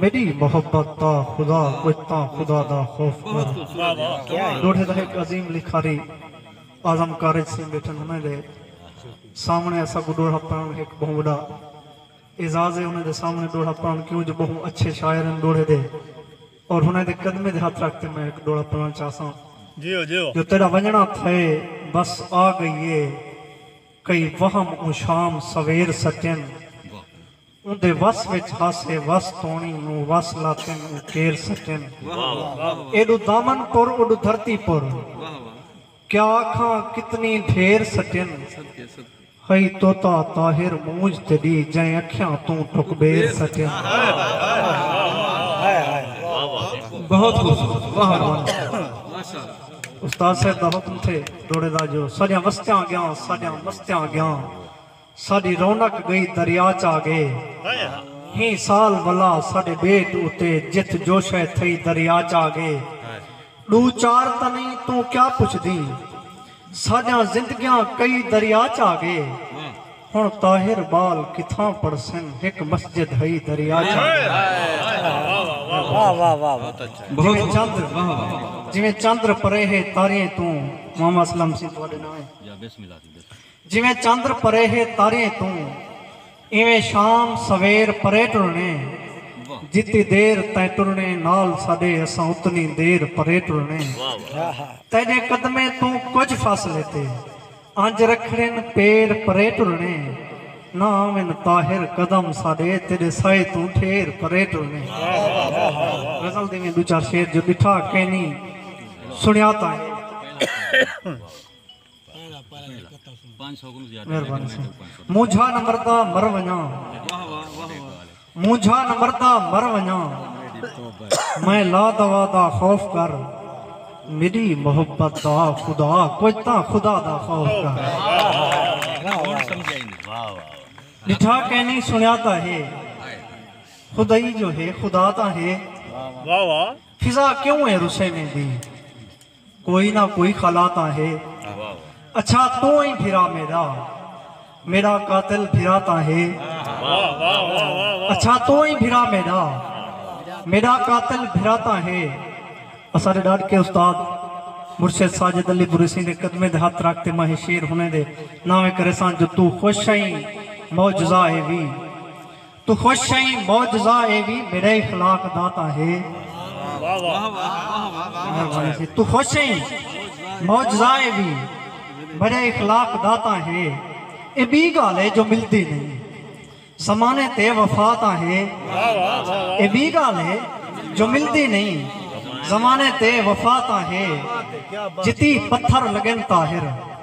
میݙی محبت دا خدا کجھ تاں خدا دا خوف کر۔ ݙوڈھے دا ہک عظیم لکھاری اعظم کارج سنگھ ٻیٹھن انہیں دے سامݨے اساں کوں ݙوہڑا پڑھݨ ہک ٻہوں وݙا اعزاز ہے انہیں دے سامݨے ݙوہڑا پڑھݨ کیوں جو ٻہوں اچھے شاعر ہن ݙوڈھے دے اور انہیں دے قدمیں دے ہتھ رکھ تے میں ہک ݙوہڑا پڑھݨ چاہساں۔ جو تیݙا ونڄݨا تھئے بس آ ڳئی اے کئی وہم اوں شام سویر سٹین اوندے وس وچ ہاسے وس توݨی اوں وس لاتن اوں کیر سٹن۔ ایݙو دامن پر اوݙو دھرتی پر کیا آکھاں کتنی ڈھیر سٹن۔ ہئی طوطا طاہر مونجھ تے ݙی جئیں اکھیاں توں ٹھکبیر سٹن۔ بہت خوبصورت واہ واہ ماشاءاللہ۔ استاد صاحب دا حکم تھے ݙوڑے دا جو ساݙیاں وستیاں اڳیاں ساݙیاں مستیاں اڳیاں۔ ساݙی رونق ڳئی دریا چا ڳئے ہئیں سال ولا ساݙے ٻیٹ اتے جتھ جوشئ تھئی دریا چا ڳئے ݙو چار تنیں توں کیا پچھدیں ساݙیاں زندگیاں کئی دریا چا ڳئے ہݨ طاہر ٻال کتھاں پڑھسن ہک مسجد ہئی دریا چا ڳئے جیویں چندر پرے ہے تاریں توں محمد اسلم سیں تہاݙے ناں ہے۔ جیویں چندر پرے ہے تاریئیں توں ایویں شام سویر پرے ٹرنے جتی دیر تیں ٹرنے نال ساڈے اساں اتنی دیر پرے ٹرنے تیڈے قدمیں توں کجھ فاصلے تے انج رکھڑن پیر پرے ٹرنے نہ آون طاہر قدم ساڈے تیڈے سائے توں ٹھیر پرے ٹرنے۔ غزل دے ایویں ڈو چار شعر جو ڈٹھا کینی سنیا تاں ہے۔ مونجھا نہ مردا مر ونجاں مونجھا نہ مردا مر ونجاں میں لا دوا دا خوف کر میری محبت دا خدا کوئی تا خدا دا خوف کر ڈٹھا کہ نہیں سنیا تا ہے خدائی جو ہے خدا تا ہے فضا کیوں ہے رسے میں دی کوئی نہ کوئی خلا تاں ہے۔ اچھا توں ای بھرا میڈا۔ میڈا قاتل بھرا تاں ہے۔ اچھا توں ای بھرا میڈا۔ میڈا قاتل بھرا تاں ہے۔ اساڈے ڈاڈکے استاد مرشد ساجد علی بریسیں دے قدمیں دے ہتھ رکھ تے ماں ہے شعر ہنیں دے ناویں کریساں جو توں خوش ہئیں معجزہ ہے وی۔ توں خوش شئیں معجزہ اے وی میڈے اخلاق دا تاں ہے مہربانی توں خوش شئیں معجزہ اے وی میڈے اخلاق دا تاں ہے اے بی گالھ اے جو ملدی نئیں زمانے تے وفا تاں ہے اے بی گالھ اے جو ملدی نئیں زمانے تے وفا تاں ہے جتی پتھر لگن طاہر